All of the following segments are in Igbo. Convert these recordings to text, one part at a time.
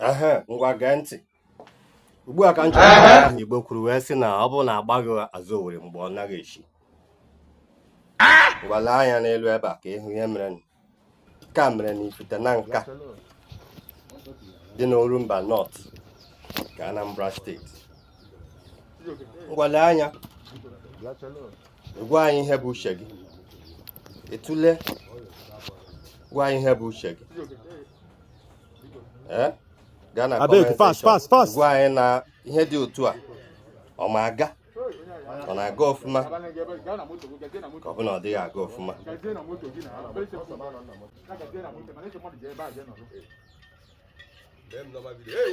ehe ngwa gee ntị ugbu a ka m chọrọ igbo kwuru wee sị na ọ bụrụ na agbaghị azụ owere mgba ọ naghị echi ngwa lee anya n'elu ebe a ka ị hụ ihe merenụ. nke a mere n'ifite nanka dị n'orumba north nke anambra steeti ngwa lee anya gwa anyị ihe bụ uche gị ị tụlee gwa anyị ihe bụ uche gị eh? gaa na gwa anyị na ihe dị otu a ọ ma aga ọ na-aga ọfụma ka ọ bụ na ọ dịghị aga ọfụma Hey,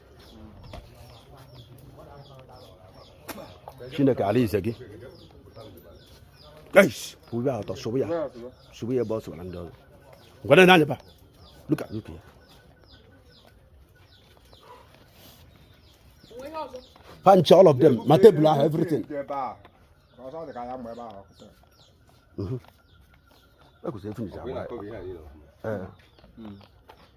chineke ala ize gị pụrụ ya ọtọ sụbụ ya sụbụ ya ebe ọ sụbara ndị ọzọ ngwere na anyaba luka luka ya punch all of them ma tebụl ahụ everything ekwesịrị finish agba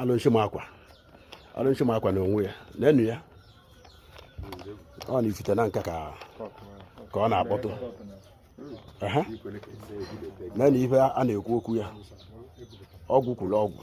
alụshị makwa alụshị makwa na onwe ya n'enu ya ọ n'ifite nanka ka ka ọ na-akpọtụ na ife a na-ekwu okwu ya ọgwụ kwuru ọgwụ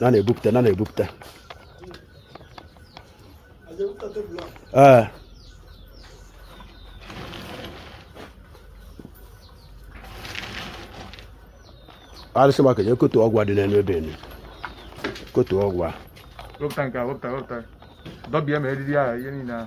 na na-ebupụta na na-ebupụta ee eh. arụsị maka ya kotu ọgwụ dị n'elu ebe enu kotu ọgwụ a wepụta nke a wepụta wepụta dọbịa ma eriri ahụ ihe niile ahụ